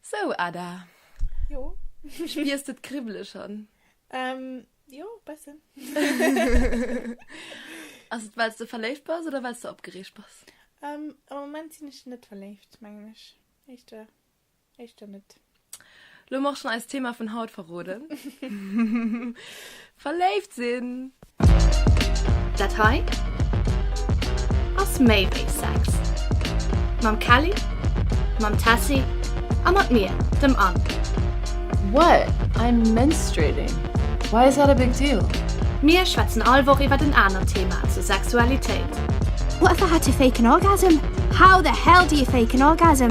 So Ada, jo spiers de d'Kribbele schon? Ähm jo bessen. Ass et wells de verléift bass oder wells de opgereegt bass? Ähm am Moment sinn ech net verléift mengen ech, éischter éischter net. Lo moch schon eist Thema vun haut verroden. Verléift sinn! Dat hei ass méi wéi Sex. Mam Kelly, mam Tessy a mat mir, dem Anne. What? I'm menstruating. Why is that a big deal? Mir schwätzen all Woch iwwert en anert Thema zur Sexualitéit. What the had to fake an orgasm? How the hell do you fake an orgasm?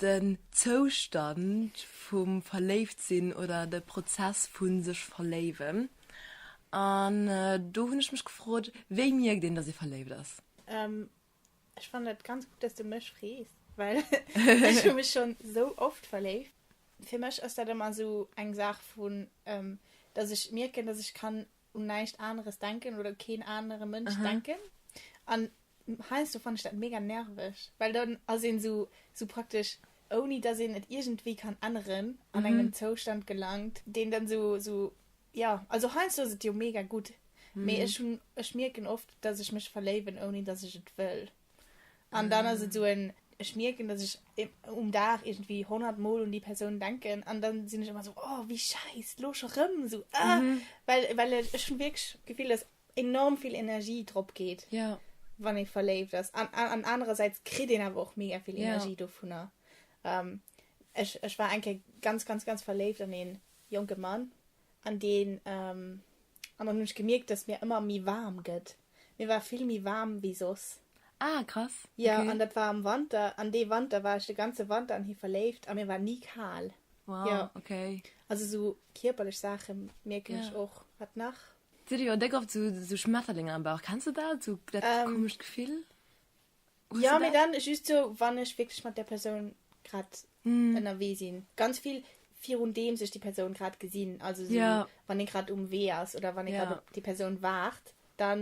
Den Zoustand vum Verléiftsinn oder de Prozess vu sech verléiwen. An do hunn ech mech gefrot, wéi mierkt een, dass ee verléift ass? Ech fannen et ganz gutt, dass du mech frees, well ech hu mech schonn esou oft verléift. Fir mech ass dat ëmmer esou eng Saach vu, dass ech mierken, dass ech kann un näischt aneres denken oder keen anere Mënsch denken an heiansdo fann ech dat mega nerveg, well dann ass een sou sou praktesch ouni dass een et iergendwéi kann änneren an engem Zoustand gelangt deen dann sou sou ja also heiansdo ass et jo mega gutt mee ech hunn ech mierken oft dass ech mech verléiwen ouni dass ech et wëll. An dann ass et esou en, ech mierken, dass ech um Dag iergendwéi 100 Mol un déi Persoun denken an dann sinn ech ëmmer esou, oh wéi schäiss, lo scho rëm, esou ah. Mhm. Well, well ech hunn wierklech d'Gefill, dass enorm vill Energie drop geet. Ja. Wann ee verléift ass. An, an anerersäits kritt een awer och mega vill Energie. Ja. Dovunner. Ähm, ech, ech war eng Kéier ganz, ganz, ganz verléift an ee jonke Mann an deen, ähm, An dann hunn ech gemierkt, dass mir ëmmer méi waarm gëtt. Mir war vill méi waarm wéi soss. Ah, krass. Okay. Jo, an dat war am Wanter. An dee Wanter war ech de ganze Wanter an hie verléift a mir war ni kal. Wow. Jo. Okay. Also sou kierperlech Saache mierken ech och. Jo. Wat nach? D'Silly huet déck oft sou Schmetterlinger am Bauch. Kenns de dat, sou dat komescht Gefill? Jo, mee dann just sou, wann ech wierklech mat där Persoun grad ënnerwee sinn. Ganz vill, virundeems ech déi Persoun grad gesinn. Also sou, wann ee grad um Wee ass oder wann ee grad op déi Persoun waart, da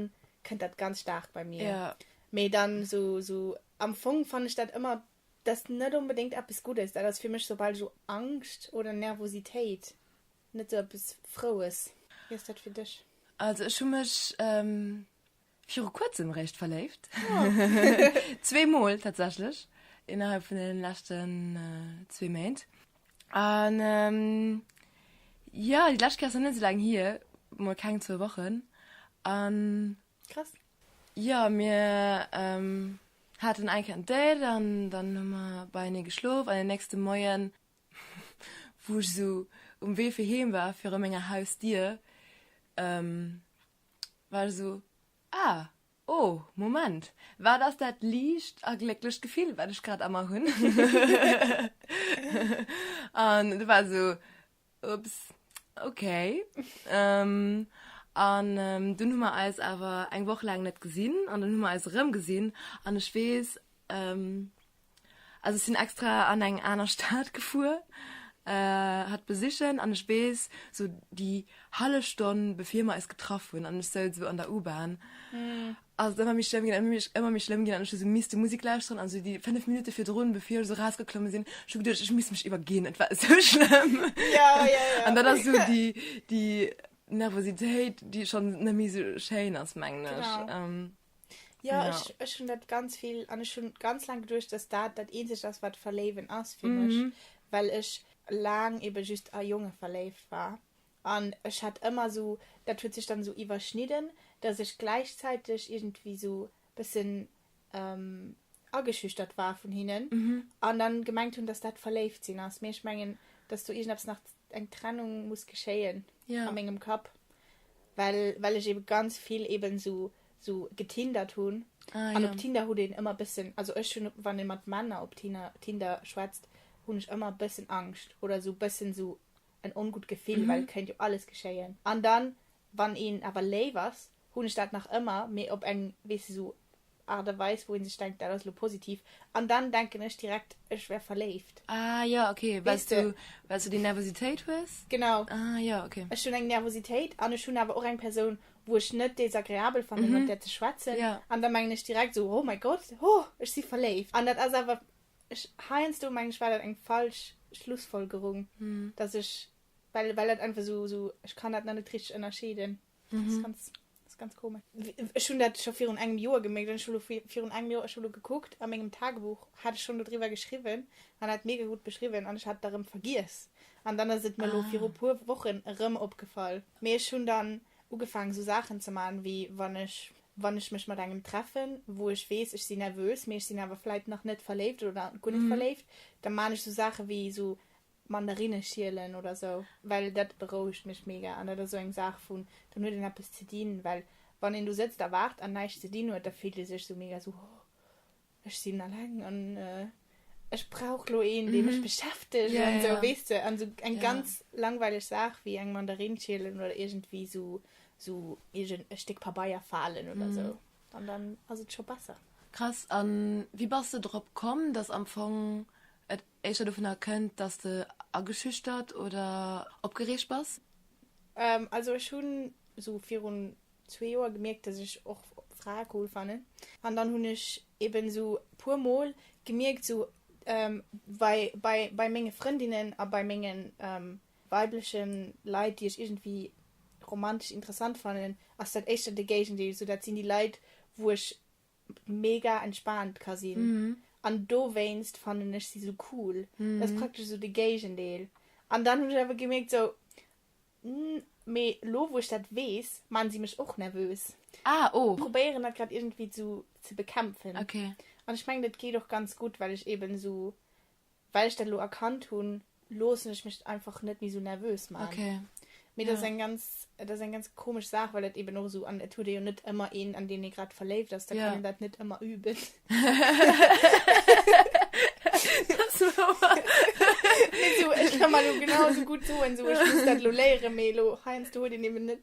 kënnt dat ganz staark bei mir. Mee dann sou, am Fong fannen ech dat ëmmer, dat ass net onbedéngt eppes Guddes. Dat ass fir mech soubal ech u Angscht oder Nervositéit, net sou eppes Froues. Wéi ass dat fir dech? Also ech hu mech Viru kuerzem réischt verléift. Zwee Mol tatsächlech innerhalb vun den leschten zwee Méint. An jo, déi lescht Kéier ass nach net esou laang hier, mol keng zwou Wochen. An krass. Jo, mir haten eng Kéier en Date an dann hu mer beienee geschlof. An den nächste Moien, wou ech esou um Wee fir heem war, viru menger Hausdier, War esou, Ah, oh, Moment, wat ass dat liicht a glécklecht Gefill, wat ech grad a mer hunn? An du war esou, Ups, okay. An dunn hu mer eis awer eng Woch laang net gesinn an dunn hu mer eis erëmgesinn an ech weess, Also ech sinn extra an eng aner Stad gefuer, hatt besichen, an ech weess, sou déi hallef Stonn bevir mer eis getraff hunn, an ech souz sou an der U-Bahn, ass et ëmmer méi schlëmm ginn, ëmmer méi, ëmmer méi schlëmm ginn, an ech hu sou misste Musek lauschteren, an sou déi fënnef Minutte virdrun, bevir ech sou rausgeklomme sinn, ech hu geduecht, ech misst mech iwwerginn, et war esou schlëmm. An dat ass sou déi, déi Nervositéit, déi schonn net méi sou schéin ass, mengen ech. Jo, ja. ech, ech hunn dat ganz vill, an ech hunn ganz laang geduecht, dass dat dat eenzegt ass, wat verléiwen ass fir mech, mhm. well ech laang eben just a Jonge verléift war. An ech hat ëmmer so, dat huet sech dann so iwwerschnidden, dass ech gläichzäiteg irgendwie so bëssen ähm, ageschüchtert war vun hinnen mhm. an dann gemengt hun dass dat verléift sinn ass mir ich mengen dass du irgendwas nach eng Trennung muss geschéien ja. an engem Kap well well ich eben ganz viel eben so so getindert hun ah, an ja. op Tinder hu den immer bisssen also ech hun wann mat Männer op Tinder Tinder schwätzt hun ich immer bisssen Angst oder so bisssen so en ongut Gefill mhm. weil könnt jo alles geschéien an dann wann een aber lé was hunn ech dat nach ëmmer, mee op eng, weess de, sou Art a Weis, wou ee sech denkt, dat ass elo positiv. An dann denken ech direkt, ech wär verléift. Ah jo, ok. Well s du, well s du déi Nervositéit hues? Genau. Ah jo, ok. Ech hunn eng Nervositéit an ech hunn awer och eng Persoun, wou ech net desagreabel fannen, mat där ze schwätzen. Jo. An da mengen ech direkt sou, oh mäi Gott, ho, ech si verléift. An dat ass awer, ech, heiansdo mengen ech, war dat eng falsch Schlussfolgerung, dass ech, well, well dat einfach sou, sou, ech kann dat nach net richteg ënnerscheeden. Mhm. Das ganz, das ganz komisch. Ich habe das schon vor einem Jahr gemerkt, ich habe vor einem Jahr ich habe geguckt, an meinem Tagebuch hatte ich schon darüber geschrieben, und hat mega gut beschrieben, und ich hatte darum vergessen. Und dann ist es mir ah. vor ein paar Wochen rum aufgefallen. Mir schon dann angefangen, so Sachen zu machen, wie wenn ich, wenn ich mich mit einem treffen, wo ich weiß, ich bin nervös, mir ich bin aber vielleicht noch nicht verliebt oder gut nicht mhm. verliebt, dann mache ich so Sachen wie so, Mandarinne schielen oder sou, well dat berouegt mech mega an dat ass sou eng Saach vun, dann huet een eppes ze dinn, well wann een do sëtzt a waart an näischt ze dinn huet, da fillt ee sech sou mega sou, oh ech sinn alleng an ech brauch lo een dee mech beschäftegt an sou, weess de, an sou eng ganz langweileg Saach wéi eng Mandarinn schielen oder iergendwéi sou sou iergend e Stéck Pabeier falen oder sou an dann ass et scho besser. Krass, an wéi bass de drop komm, dass am Fong et éischter dovun erkennt dass de ageschüchtert oder opgereegt bass? Also ech hunn sou virun zwee Joer gemierkt dass ech och Frae cool fannen an dann hunn ech eben sou puer mol gemierkt sou wei bei bei menge Frëndinnen a bei menge weiblechen Leit déi ech iergendwéi romantesch interessant fannen ass dat éischter de Géigendeel, sou dat sinn déi Leit wou ech mega entspaant ka sinn. Mhm. An dowéinst fannen ech si sou cool. Dat ass praktesch esou de Géigendeel. An dann hunn ech awer gemierkt sou, Nn, mee elo wou ech dat weess, maachen si mech och nervös. Ah, oh. Probéieren dat grad iergendwéi sou ze bekämpfen. Okay. An ech mengen dat geet och ganz gutt, well ech eben sou Well ech dat elo erkannt hunn, loossen ech mech einfach net méi esou nervös man. Okay. Mee dat ass Ja. eng ganz, et ass eng ganz komesch Saach, well et eben och esou, an et huet ee jo net ëmmer een, an deen ee grad verléift ass, da kann Ja. een dat net ëmmer üben. Dat ass wouer. Mee esou, ech ka mer elo genau esou gutt soen, esou, ech muss dat elo léieren, mee elo heiansdo huet een eben net.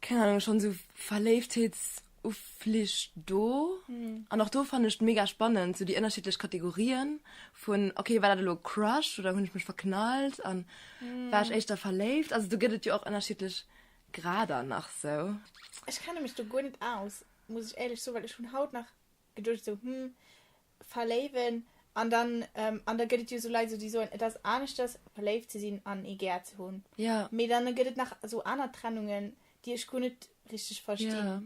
Keng Ahnung, schon sou Verléiftheetsufflich do. Mhm. An och do fannen ech et mega spannend, sou déi ënnerschiddlech Kategorien vun, okay, war dat elo Crush oder hunn ech mech verknallt an war ech éischter verléift? Also do gëtt et jo och ënnerschiddlech Grader nach sou. Ech kenne mech do guer net aus, muss ech éierlech soen, well ech hunn haut nach geduecht esou hm verléiwen an dann an da gëtt et jo esou Leit esou déi soen et ass aneschters verléift ze sinn an ee gär ze hunn ja mee dann gëtt et nach esou aner Trennungen déi ech guer net richteg verstinn ja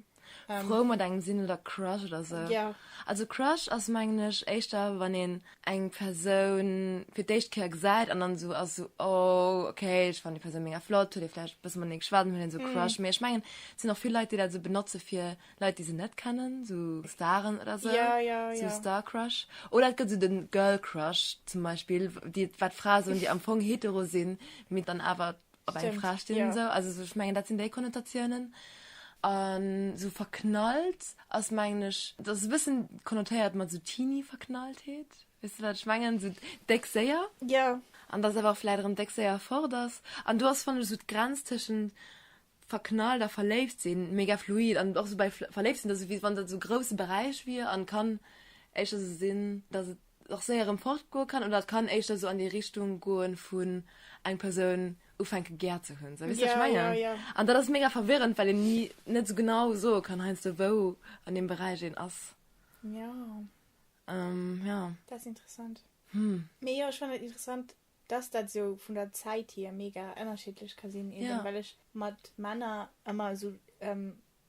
frou mat engem sinn oder Crush oder esou ja also Crush ass mengen ech éischter wann een eng Persoun fir d'éischt Kéier gesäit an dann esou ass esou oh ok ech fannen déi Persoun mega flott huet ee vläicht e bësse matenee geschwat an dann huet een esou Crush mee ech mengen et sinn och vill Leit déi dat esou benotze fir Leit déi se net kennen so Staren oder se ja, ja, so ja. Star Crush oder et gëtt se den Girl Crush zum Beispiel die wat Fra so die am Fong hetero sinn mit dann awer op eng Fra stehen ja. so also so, ich mengen dat sinn déi Konnotationen an so verknallt ass mengglisch das wissen konnotéiert man so teeny verknallt heet weißt du wat ich mengen so deck séier ja an das awer vielleicht im deck séier fort ass an du hast von so Grenztischen verknallt a verléift sinn mega fluid an och sou bei verléift sinn, dass wéi wann dat sou grousse Beräich wier an kann éischter sou sinn, dass et och séier erëm fortgoe kann oder et kann éischter sou an déi Richtung goe vun eng Persoun ufänke gär ze hunn. Sou, weess de, wat ech mengen? Yeah, yeah, yeah. An dat ass mega verwirrend, well een ni net sou genau soe kann heiansdo, wou an deem Beräich een ass. Ja. Ähm, ja. Dat ass interessant. Hm. Mee jo, ech fannen et interessant, dass dat esou vun der Zäit hier mega ënnerschiddlech ka sinn, eben Ja. well ech mat Männer ëmmer esou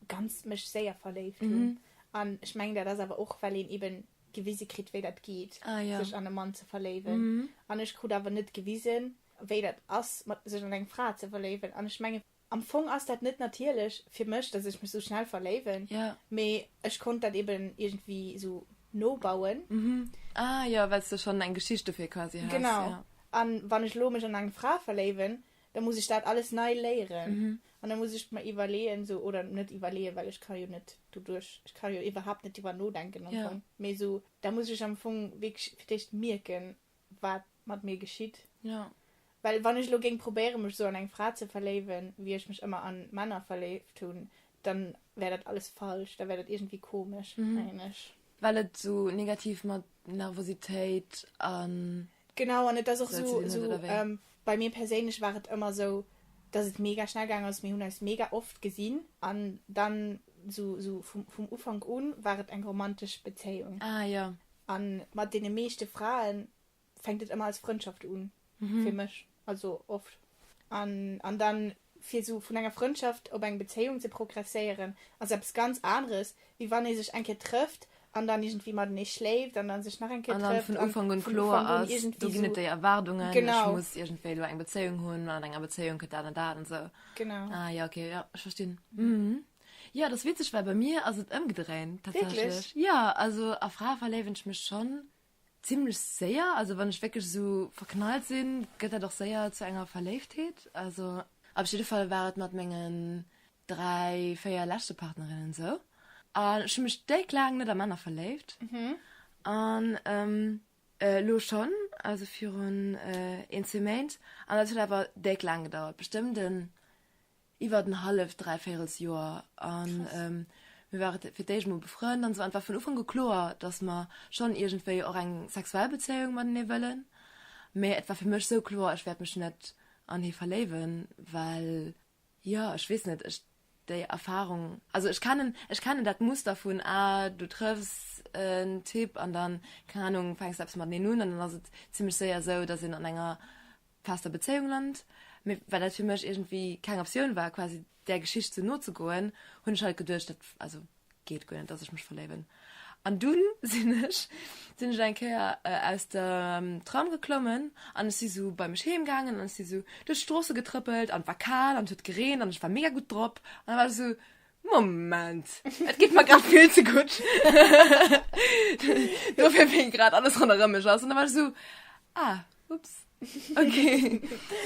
ganz mech séier verléift hunn. Mhm. An ech mengen, dat ass awer och, well een eben gewise kritt, wéi dat geet, Ah ja. sech an e Mann ze verléiwen. Mhm. An ech krut awer net gewisen, wéi dat ass, mat sech an eng Fra ze verléiwen. An ech mengen, Am Fong ass dat net natierlech fir mech, dass ech mech sou schnell verléiwen, mee ech konnt dat eben iergendwéi sou nobauen. Mhm. Ah jo, well s de schonn eng Geschicht dofir quasi has. Genau. A wann ech elo mech an eng Fra verléiwen, da muss ech dat alles nei léieren. An da muss ech mer iwwerleeën, sou, oder net iwwerleeën, well ech ka jo net doduerch, ech ka jo iwwerhaapt net driwwer nodenken am Fong, mee sou, da muss ech am Fong wierklech fir d'éischt mierken, wat mat mir geschitt. Jo. Well wann ech elo géing probéieren, mech esou an eng Fra ze verléiwen, wéi ech mech ëmmer an Männer verléift hunn, dann wär dat alles falsch, da wär dat iergendwéi komesch, mengen ech. Well et esou negativ mat Nervositéit an. Genau, an et ass och esou, esou, bei mir perséinlech war et ëmmer esou, dass et mega schnell gaangen ass, mir hunn eis mega oft gesinn an dann esou, esou vum, vum Ufank u war et eng romantesch Bezéiung. Ah jo. A mat deene meeschte Frae fänkt et ëmmer als Frëndschaft un, fir mech, also oft. An, an dann, fir esou vun enger Frëndschaft op eng Bezéiung ze progresséieren, ass eppes ganz aneres, wéi wann ee sech eng Kéier trëfft an dann iergendwéi matenee schléift an dann sech nach eng Kéier trëfft. An dann vun Ufank un kloer ass, do ginn et déi Erwaardungen, ech muss iergendwéi elo eng Bezéiung hunn, an enger Bezéiung kënnt dat an dat an esou. Genau. Ah jo, okay, jo, ech verstinn. Ja, das witzig, weil bei mir also umgedreht tatsächlich. Wirklich? Ja, also a Frau verleben ich mich schon ziemlich sehr. Also wenn ich wirklich so verknallt sind, geht er doch sehr zu einer Verleibtheit. Also auf jeden Fall war es mit meinen drei, vier letzten Partnerinnen so. Und ich habe mich direkt lang nicht an Männer verliebt. Mhm. Und ähm, äh, lo schon, also für ein, äh, ein Zement. Und das hat aber direkt lang gedauert. Bestimmt ein Iwwert en halleft, dräivéirels Joer. An mir ware fir d'éischt emol befrënnt an esou. An et war vun Ufank u kloer, dass mer schonn iergendwéi och eng sexuell Bezéiung matenee wëllen. Mee et war fir mech esou kloer, ech wäert mech net an hie verléiwen, well, jo, ech weess net, ech déi Erfarung, also ech kennen, ech kennen dat Muster vun, ah, du trëffs en Typ an dann, keng Ahnung, fänks de eppes mateneen un an dann ass et zimlech séier esou, dass een an enger. fester Bezéiung Land, mee well dat fir mech iergendwéi keng Optioun war quasi där Geschicht sou no ze goen, hunn ech halt geduecht dat also geet guer net dass ech mech verléiwen an dunn sinn ech sinn ech eng Kéier aus dem Tram geklommen an ech si sou bei mech heem gaangen an ech si sou duerch d'Stroosse getrëppelt an et war kal an et huet gereent an ech war mega gutt drop an da war ech sou Moment et geet mer grad vill ze gutt dofir wéi grad alles ronderëm mech ass an da war ech sou ah Ups. Okay.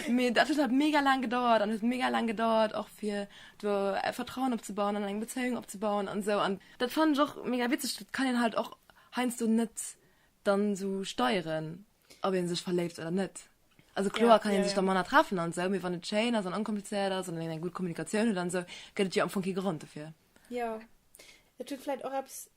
Mee dat huet halt mega laang gedauert an huet mega laang gedauert och fir do e Vertrauen opzebauen an eng Bezéiung opzebauen an esou an dat fannen ech och mega witzeg. Dat kann een halt och heiansdo net dann sou steieren, ob ee sech verléift oder net. Also kloer kann ee sech da manner treffen an esou, mee wann et schéin ass an onkomplizéiert ass an een eng gutt Kommunikatioun huet an esou, gëtt et jo am Fong kee Grond dofir. Jo. Et huet vläicht och eppes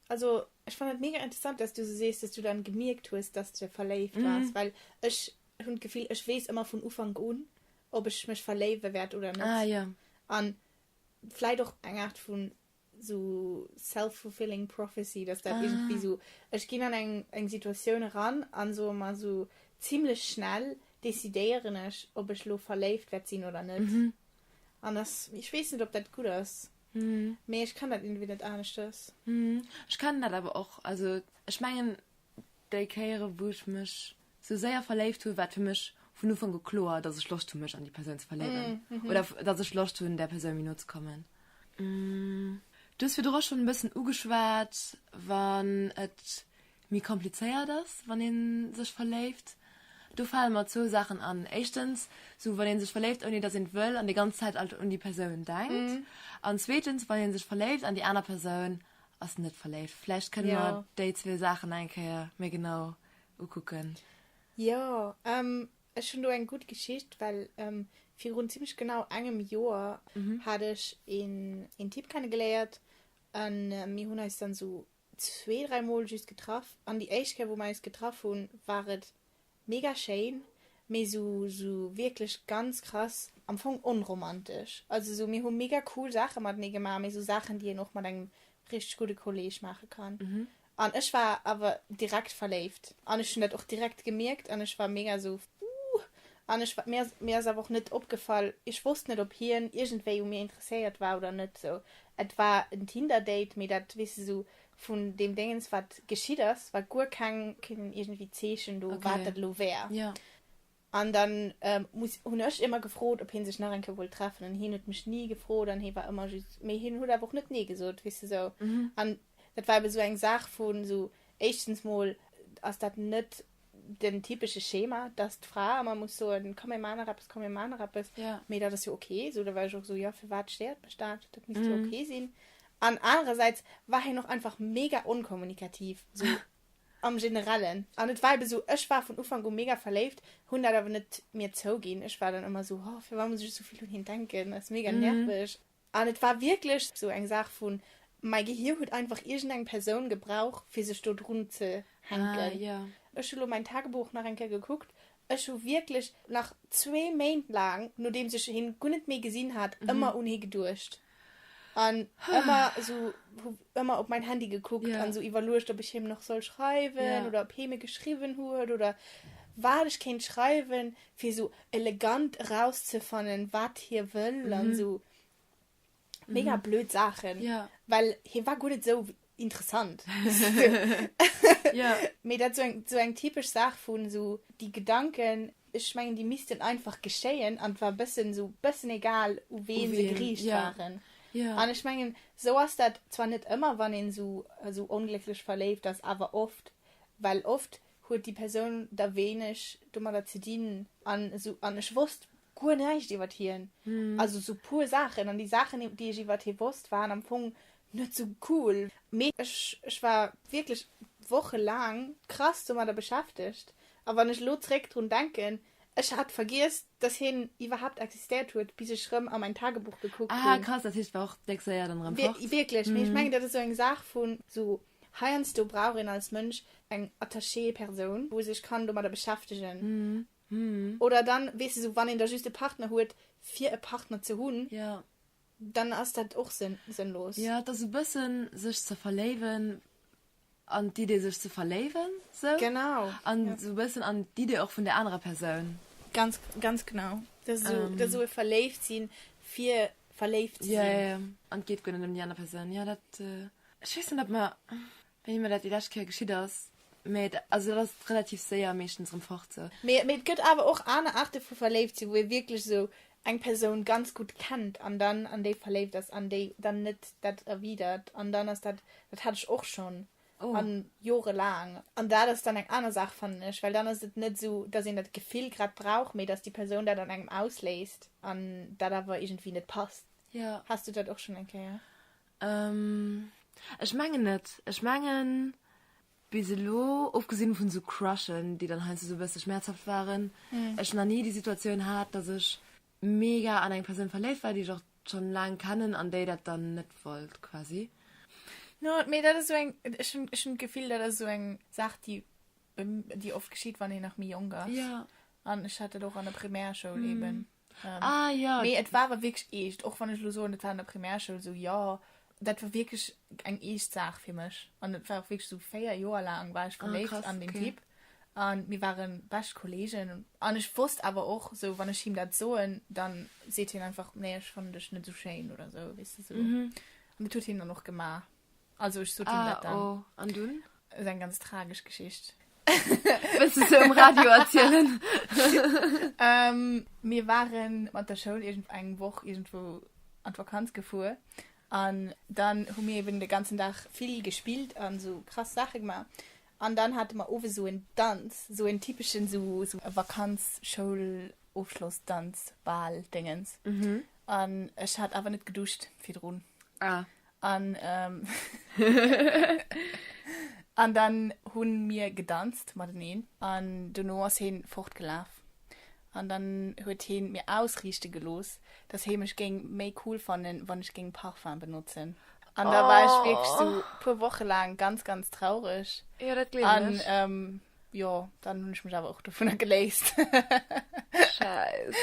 Also ech fannen et mega interessant dass du sou sees, dass du dann gemierkt hues dass de verléift waars, well ech hunn d'Gefill ech weess ëmmer vun Ufank un ob ech mech verléiwe wäert oder net Ah jo. an vläit och eng Aart vun sou self fulfilling prophecy dass dat iergendwéi sou ech ginn an eng eng Situatioun eran an soe mer sou zimlech schnell decidéieren ech ob ech lo verléift wäert sinn oder net an dass ech weess net ob dat gutt ass. Mee ech kann dat irgendwie net aneschters. Ech kann dat awer och. Also ech mengen déi Kéiere wou ech mech sou séier verléift hunn, war et fir mech vun Ufank u kloer, datt ech Loscht hunn mech an déi Persoun ze verléiwen oder datt ech Loscht hunn där Persoun méi no ze kommen. Du hues virdru schonn e bëssen ugeschwat, wann et méi komplizéiert ass wann een sech verléift. Do fale mer zwou Saachen an, éischtens sou wann een sech verléift ouni dass een et wëll an déi ganz Zäit alt un déi Persoun denkt an zweetens wann een sech verléift an déi aner Persoun ass net verléift. Vläicht kënne mer déi zwee Saachen eng Kéier méi genau ukucken. Jo, ech hunn do eng gutt Geschicht, well virun zimlech genau engem Joer hat ech een Typ kennegeléiert a mir hunn eis dann sou zwee, dräi Mol just getraff an déi éischt Kéier wou mer eis getraff hunn, war et mega schéin, mee esou esou wierklech ganz krass am Fong onromantesch. Also esou mir hu mega cool Saache matenee gemaach, mee esou Saachen déi een och mat engem richteg gudde Kolleeg maache kann. An ech war awer direkt verléift an ech hunn dat och direkt gemierkt an ech war mega esou, Wouh! An ech, wat mir, mir ass awer och net opgefall, ech wosst net, ob hien iergendwéi u mir interesséiert war oder net. Sou, et war en Tinder-Date, mee dat, weess de, sou vun deem Déngens, wat geschitt ass, war guer keng, keen iergendwéi Zeechen do, wat dat elo wär. An dann muss, hunn ech ëmmer gefrot, ob hie sech nach eng Kéier wollt treffen. An hien huet mech ni gefrot an hie war ëmmer just, mee hien huet awer och net nee gesot, weess de, sou. An dat war ebe sou eng Saach vu, sou éischtens mol ass dat net den typesche Schema, dass d'Fra ëmmer muss soen, komm mir maachen nach eppes, komm mir maachen nach eppes, ja. mee dat ass jo ok, esou da war ech och esou, jo, firwat stéiert mech dat, dat misst jo mm. ok sinn. An anerersäits war hien och einfach mega onkommunikativ, so am Generellen. An et war eben so, ech war vun Ufank u mega verléift, hunn dat awer net mir zouginn. Ech war dann ëmmer so, oh, firwat muss ech esou vill un hien denken, dat ass mega mm. nervig. An et war wierklech esou eng Saach vu mäi Gehir huet einfach iergendeng Persoun gebraucht, fir sech do drun ze hänken. Ech hu lo mäin Tagebuch nach eng Kéier gekuckt. Ech hu wierklech nach zwee Méint laang, nodeems ech hien guer net méi gesinn hat, ëmmer un hie geduecht an ëmmer esou, hu ëmmer op mäin Handy gekuckt an esou iwwerluecht, ob ech him nach soll schreiwen oder ob hie mir geschriwwen huet oder wat ech kéint schreiwen. fir sou elegant erauszefannen wat hie wëll mhm. an sou mega mhm. blöd Saachen ja. well hie war gutt net sou interessant ja. mir dat so eng so eng typesch Saach vun so die Gedanken ich mengen die missten einfach geschéien an war bëssen so bëssen egal u ween se griech ja. waren ja. an ich mengen so ass dat zwar net ëmmer wann en so so onglücklech verleeft ass awer oft well oft huet déi Persoun da wéineg domadder ze dinn an esou, an ech wosst guer näischt iwwert hien, also esou puer Saachen, an déi Saachen, déi ech iwwert hie wosst, waren am Fong net sou cool. Mee ech, ech war wierklech wochelaang krass domadder beschäftegt, a wann ech elo zeréck drun denken, ech hat vergiess, dass hien iwwerhaapt existéiert huet, bis ech rëm a mäin Tagebuch gekuckt hunn. Ah, krass, dat heescht, et war och déck séier dann erëm fort. Wierklech, mee ech mengen, dat ass esou eng Saach vun, esou heiansdo brauch een als Mënsch eng Attachée Persoun wou sech kann domadder beschäftegen oder dann weess de sou wann een da just e Partner huet fir e Partner ze hunn dann ass dat och sënnlos. Jo et ass e bëssen sech ze verléiwen an d'Idee sech ze verléiwen sou an sou bëssen an d'Idee och vun der anerer Persoun. Ganz ganz genau dat ass esou e verléift sinn fir verléift ze sinn. Jo jo an et geet guer net ëm déi aner Persoun jo dat ech weess net ob mer Wéi mer dat déi lescht Kéier geschitt ass. Mee et, also et ass relativ séier meeschtens erëm fort sou. Mee et gëtt awer och aner Aarte vu verléift sinn, wou ee wierklech esou eng Persoun ganz gutt kennt an dann an déi verléift ass an déi dann net dat erwidert an dann ass dat, dat hat ech och schonn a jorelaang. An dat ass dann eng aner Saach, fannen ech, well dann ass et net esou, dass een dat Gefill grad brauch, mee dass déi Persoun dat an engem ausléist an dat awer iergendwéi net passt. Haas du dat och schonn eng Kéier? Ehm ech mengen net, ech mengen bis elo ofgesinn vun sou Crushen déi dann heiansdo sou e bësse schmerzhaft waren, ech na ni déi Situatioun hat dass ech mega an eng Persoun verléift war déi ech och schon laang kennen an déi dat dann net wollt quasi. No mee dat ass sou eng, ech hunn ech hunn d'Gefill dat ass sou eng Saach déi déi oft geschitt wann een nach méi jonk ass an ech hat dat och an der Primärschoul eben. Ah ja. Mee et war awer wierklech eescht, och wann ech elo soen, et war an der Primärschoul esou, jo, dat war wierklech eng eescht Saach fir mech. An et war och wierklech esou, véier Joer laang war ech Ah, verléift krass, an deen okay. Typ. A mir ware bescht Kolleegen. An ech wosst awer och esou, wann ech him dat soen, da seet hien einfach, nee, ech fannen dech net esou schéin oder esou, weess de, esou. An dat huet hien dann och gemaach. Also ech sot him dat dann. Ah, oh. An dunn? Dat ass eng ganz tragesch Geschicht. Wëlls du se um Radio erzielen? Mir ware mat der Schoul iergend eng Woch iergendwou an d'Vakanz gefuer. An dann hu mir eben de ganzen Dag vill gespillt an esou krass Saache gemaach. An dann hate mer owes esou en Danz, esou en typeschen esou Vakanz-Schoulofschlossdanz-Bal-Déngens. An ech hat awer net geduscht virdrun. Ah. An, ähm, an dann hunn mir gedanzt mateneen an dono ass heen fortgelaaf an dann huet heen mir ausriichte gelooss, dass hee mech géing méi cool fannen, wann ech géing Parfum benotzen. An da war ech wierklech sou Oh. puer Woche laang ganz, ganz traureg. Jo, dat gleewen An, ech. ähm, jo, dann hunn ech mech awer och dovunner geléist. Schäiss.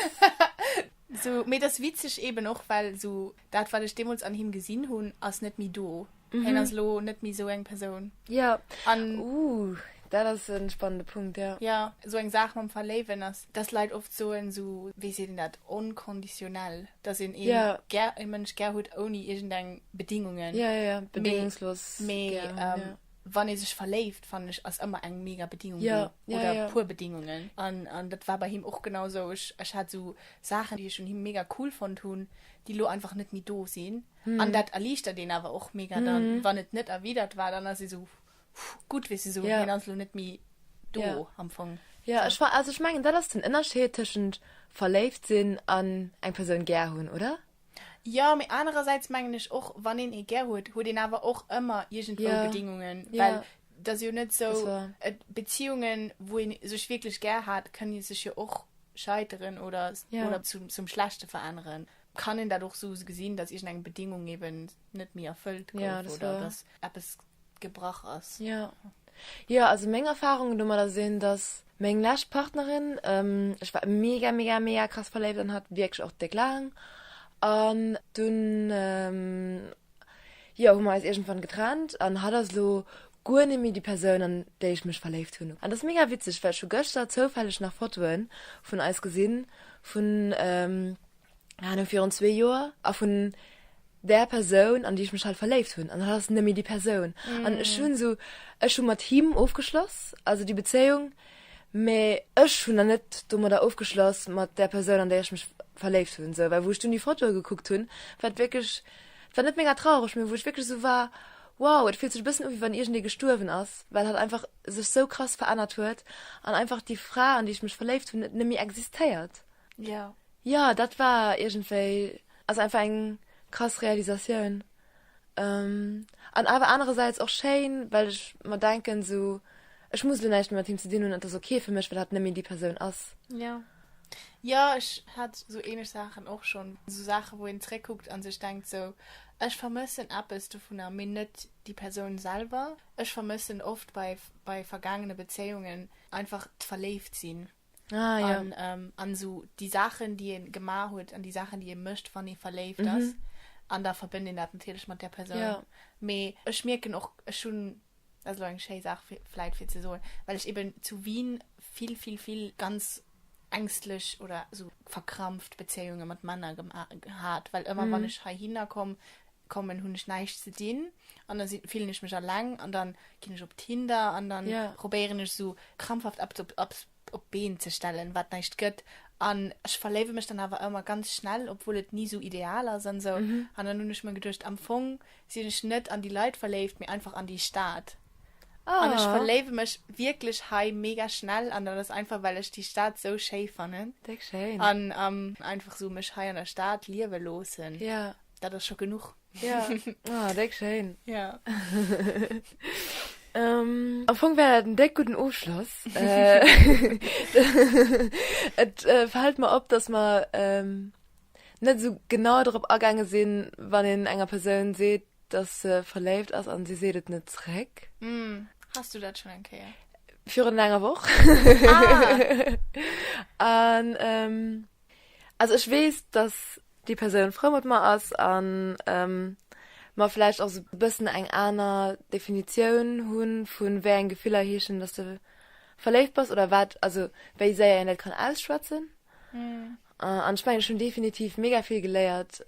Sou, mee et ass witzeg eeben och, well sou Dat, wat ech deemools an him gesinn hunn, ass net méi do. Hien ass elo net méi esou eng Persoun. Ja. An. Ooh, dat ass e spannende Punkt, ja. Ja, esou eng Saach mam Verléiwen ass, dass Leit oft soen, esou, wéi seet een dat, onkonditionell, dass een ee. Ja. Gär, ee Mënsch gär huet ouni iergendeng Bedingungen. Ja, ja, ja, bedingungslos gär hunn, ja. Mee, wann ee sech verléift, fannen ech, ass ëmmer eng mega Bedingung do oder e puer Bedingungen. An dat war bei him och genau esou. Ech hat esou Saachen, déi ech un him mega cool fonnt hunn, déi elo einfach net méi do sinn. An dat erliichtert een awer och mega dann, wann et net erwidert war. Dann ass ee sou gutt, weess de, sou hien ass elo net méi do am Fong. Jo, ech war, also ech mengen dat ass den Ënnerscheed tëschent verléift sinn an eng Persoun gär hunn, oder? Jo, mee anerersäits mengen ech och, wann een ee gär huet, huet een awer och ëmmer iergendwou yeah. Bedingungen. Yeah. Well dat ass jo net sou, et, Beziehungen, wou een sech wierklech gär hat, kënne sech jo och scheiteren oder, yeah. oder zum, zum Schlechte veränneren. Kann een dat och sou gesinn, dass iergendeng Bedingung eben net méi erfëllt gouf yeah, oder dass eppes gebrach ass. Jo, jo, also meng Erfahrung domat ass een, dass meng lescht Partnerin, ähm, ech war mega, mega, mega krass verléift an hat wierklech och déck laang. An dunn, ähm, jo, hu mer eis iergendwann getrennt an hatt ass elo guer net méi déi Persoun, an déi ech mech verléift hunn. An dat ass mega witzeg, well ech hu gëschter zoufälleg nach Fotoe vun eis gesinn, vun, ähm, Ahnung, virun zwee Joer a vun der Persoun an déi ech mech halt verléift hunn an hat ass nëmme déi Persoun mm. an ech hunn so ech hun mat him ofgeschloss also die Bezéiung me ech hunn der net dummer der ofgeschloss mat der Persoun an der ech mech verléift hunn se well woch du die Foto geguckt hunn wat wirklich war net ménger traurig mir woch wirklich so war wow et fiel sech bëssen wie wann ir de gestuerwen ass well hat einfach sech so krass verännert huet an einfach die Fra an die ich mech verléift hunn net nëmi existéiert ja yeah. Jo dat war iergendwéi also einfach eng krass Realisatioun an awer anerersäits och schéin, well ech mer denken esou, ech muss elo näischt méi mat him ze dinn hunn, et ass ok fir mech, well hatt net méi déi Persoun ass. Jo, jo ech hat esou ähnlech Saachen och schonn, esou Saachen, wou een zréckkuckt a sech denkt esou, ech vermëssen eppes dovunner, mee net déi Persoun selwer. Ech vermëssen oft bei bei vergaangene Bezéiungen einfach d'Verléift sinn. Ah, ja. an, ähm, an so die Sachen die een gemacht huet an die Sachen die een mëcht wann ee verléift mhm. ass an da verbënnt een dat natierlech mat der Person ja. mee ech mierken och ech hunn also eng schéi Saach fleit fir ze soen well ech eben zu Wien vill vill vill ganz ängstlech oder so verkrampft Bezéiunge mat Männer geha gehat well ëmmer mhm. wann ech hei hinnerkomm kommen hun ech näischt ze din an dann sin fillen ech mech alleng an dann gin ech op Tinder an dann probéieren ech sou krampfhaft eppes op op op d'Been ze stellen wat näischt gëtt an ech verléiwe mech dann awer ëmmer ganz schnell obwuel et ni sou ideal ass an sou an dann hun ech mer geduecht am Fong sin ech net an déi Leit verléift mee einfach an déi Stad an ech verléiwe mech wierklech hei mega schnell an dat ass einfach well ech déi Stad sou schéi fannen an einfach sou mech hei an der Stad liewe loossen. Dat ass scho genuch. Ja. Ah, déck schéin. Ja. Am Fong war dat en déck gudden Ofschloss. Et fält mer op, datt mer net esou genau drop agaange sinn, wann een enger Persoun seet, datt se verléift ass an si seet et net zréck. Hass du dat schonn eng Kéier? Virun enger Woch. Ah! An Also ech wees dass déi Persoun frou mat mer ass an mer vläicht och sou bëssen eng aner Definitioun hunn vun wéi eng Gefiller heeschen dass de verléift bass oder wat also wéi séier een dat kann ausschwätzen an ech mengen ech hunn definitiv mega vill geléiert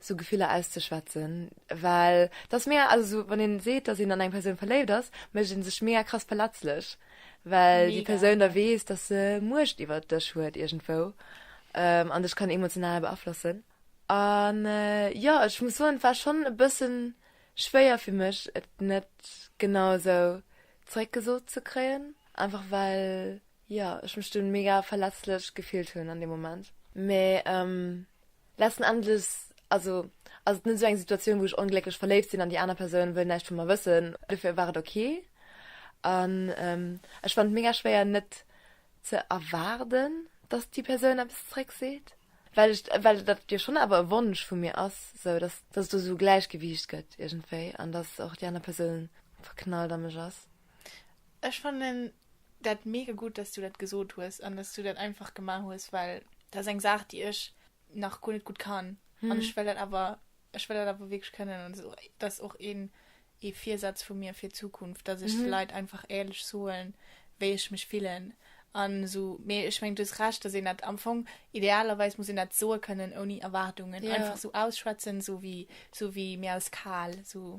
sou Gefiller auszeschwätzen, well dass mega, also sou wann een seet dass een an eng Persoun verléift ass, mécht een sech mega krass verletzlech, well déi Persoun da weess dass se Muecht iwwert dech huet iergendwou an dech kann emotional beaflossen an jo ech muss soen et war schonn e bëssen schwéier fir mech et net genau esou zeréck gesot ze kréien, einfach well jo ech mech dunn mega verletzlech gefillt hunn an deem Moment, mee. Letzten Endes, also, ass et net esou eng Situatioun, wou ech onglécklech verléift sinn an déi aner Persoun wëll näischt vu mer wëssen. Dofir war et ok. An ech fannen et mega schwéier net ze erwaarden, dass déi Persoun eppes zréck seet, well ech, well dat jo schonn awer e Wonsch vu mir ass, sou dass, dass et do esou e Gläichgewiicht gëtt iergendwéi an dass och déi aner Persoun verknallt a mech ass. Ech fannen dat mega gutt dass du dat gesot hues an dass du dat einfach gemaach hues well dat ass eng Saach déi ech nach guer net gutt kann an ech well dat awer ech well dat awer wierklech kënnen an dat ass och een ee Virsaz vu mir fir d'Zukunft dass ech de Leit einfach éierlech soen wéi ech mech fillen an esou mee ech mengen du hues Recht dass een dat am Fong idealerweis muss een dat soe kënnen ouni Erwaardungen einfach esou ausschwätzen esou wéi esou wéi mir aus Kal esou.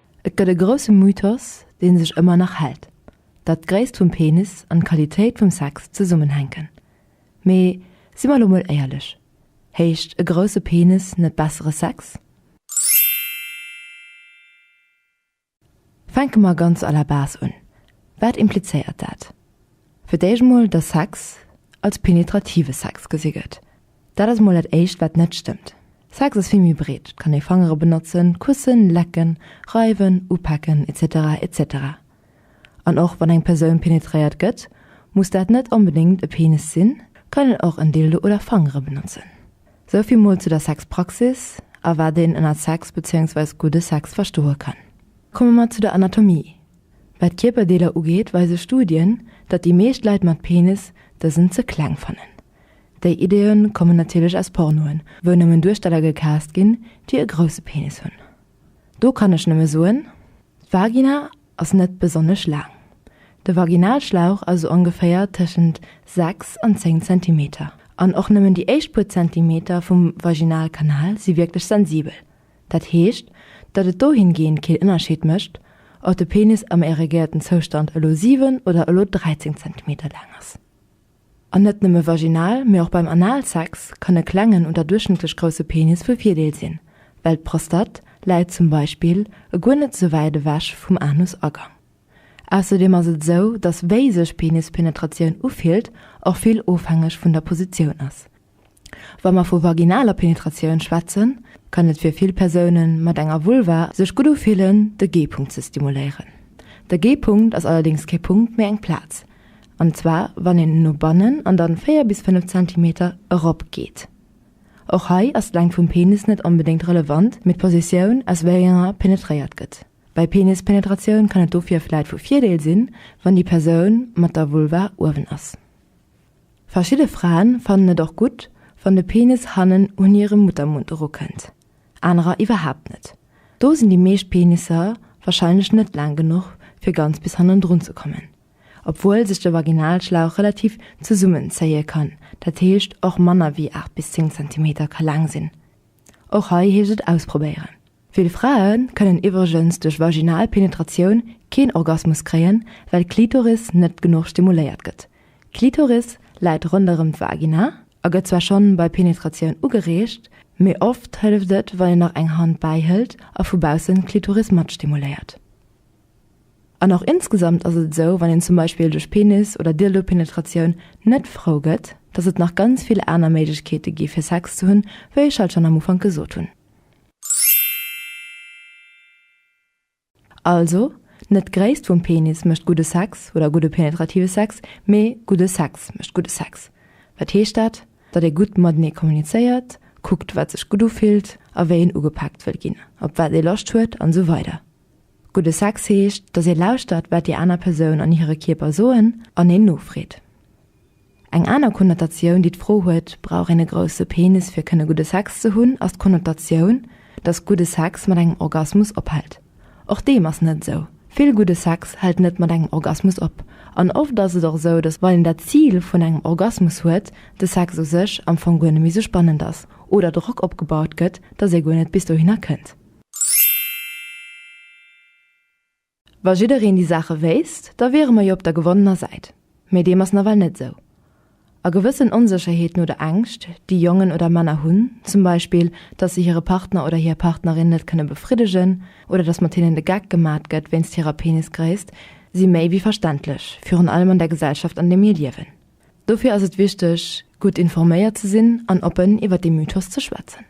Et gëtt e grousse Mythos, dee sech ëmmer nach hält, datt d'Gréisst vum Penis an d'Qualitéit vum Sex zesummenhänken. Mee si mer elo mol éierlech, Heescht e grousse Penis net bessere Sex? Fänke mer ganz à la base un, Wat implizéiert dat? Fir d'éischt mol, datt Sex als penetrative Sex gesi gëtt. Dat ass mol dat éischt wat net stëmmt. Sex ass vill méi breet, et kann ee Fangere benotzen, kussen, lecken, reiwen, upaken, etc. Etc. An och wann eng Persoun penetréiert gëtt, muss dat net onbedéngt e Penis sinn, kann een och en Dildo oder Fangere benotzen. Sou vill mol zu der Sexpraxis a wat een ënner Sex bezéiungsweis gudde Sex verstoe kann. Komme mer zu der Anatomie. Wat Kierperdeeler ugeet, weise Studien, datt déi meescht Leit mat Penis dësen ze kleng fannen. Déi Ideeë kommen natierlech aus Pornoen, wou nëmmen Duersteller gecast ginn, déi e grousse Penis hunn. Do kann ech nëmme soen, d'Vagina ass net besonnesch laang. De Vaginalschlauch ass sou ongeféier tëschent 6 an 10 Zentimeter. An och nëmmen déi éischt puer Zentimeter vum Vaginalkanal si wierklech sensibel. Dat heescht, datt et dohingehend keen Ënnerscheed mécht, ob de Penis am erigéierten Zoustand elo 7 oder elo 13 Zentimeter laang ass. An net nëmme vaginal, mee och beim Analsex kann e klengen oder duerchschnëttlech grousse Penis vu Virdeel sinn, well d'Prostate läit zum Beispill e guer net sou wäit ewech vum Anusagang. Ausserdeem ass et sou, dass wéi sech Penispenetratioun ufillt och vill ofhängeg vun der Positioun ass, Wa mer vu vaginaler Penetratioun schwätzen, kann et fir vill Persoune mat enger Vulva sech gutt ufillen, de G-Punkt ze stimuléieren. De G-Punkt ass allerdéngs kee Punkt, mee eng Plaz, an zwar wann een no bannen an dann 4 bis 5 Zentimeter erop geet. Och hei ass d'Längt vum Penis net onbedéngt relevant, mee d'Positioun, aus wéi enger penetréiert gëtt. Bei Penispenetratioun kann et dofir vläit vu Virdeel sinn, wann déi Persoun mat der Vulva uewen ass. Verschidde Fraen fannen et och gutt, wann de Penis hannen un hire Muttermund erukënnt, anerer iwwerhaapt net. Do sinn déi meescht Penisser warscheinlech net laang genuch, fir ganz bis hannendrun ze kommen, obwuel sech de Vaginalschlauch relativ zesummenzéie kann, dat heescht och manner wéi 8 bis 10 Zentimeter ka laang sinn. Och hei heescht et ausprobéieren. Vill Frae kënnen iwwregens duerch vaginal Penetratioun keen Orgasmus kréien, well d'Klitoris net genuch stimuléiert gëtt. D'Klitoris läit ronderëm d'Vagina a gëtt zwar schonn bei Penetratioun ugereegt, mee oft hëlleft et, wann een nach eng Hand bäihëlt a vu baussen d'Klitoris matstimuléiert. An och insgesamt ass et esou, wann een zum Beispill duerch Penis oder Dildopenetratioun net Frou gëtt, dass et nach ganz vill aner Méiglechkeete gi fir Sex ze hunn, wéi ech halt schonn am Ufank gesot hunn. Also, net d'Gréisst vum Penis mécht gudde Sex oder gudde penetrative Sex, mee gudde Sex mécht gudde Sex. Wat heescht dat? Datt ee gutt matenee kommunizéiert, kuckt wat sech gutt ufillt a wéi een ugepaakt wëll ginn, op wat ee Loscht huet an esou weider. Gudde Sex heescht, datt ee lauschtert, wat déi aner Persoun an hire Kierper soen an een nofreet. Eng aner Konnotatioun, déi d'Fro huet, Brauch een e grousse Penis, fir kënne gudde Sex ze hunn? ass d'Konnotatioun, datt gudde Sex mat engem Orgasmus ophält. Och deem ass net esou. Vill gudde Sex hält net mat engem Orgasmus op. An oft ass et och esou, datt wann een dat Zil vun engem Orgasmus huet, de Sex u sech am Fong guer net méi esou spannend ass oder Drock opgebaut gëtt, datt ee guer net bis dohinner kënnt. Wa jiddereen déi Saache wéisst, da wiere mer jo op der gewonnener Säit. Mee deem ass nawell net esou. A gewëssen Onsécherheeten oder Ängscht, déi Jongen oder Männer hunn, zum Beispill, dass se hire Partner oder hir Partnerin net kënne befriddegen oder dass mat hinnen de Geck gemat gëtt wéinst hirer Penisgréisst, si méi wéi verständlech, virun allem an der Gesellschaft, an där mir liewen. Dofir ass et wichteg, gutt informéiert ze sinn an oppen iwwert dee Mythos ze schwätzen.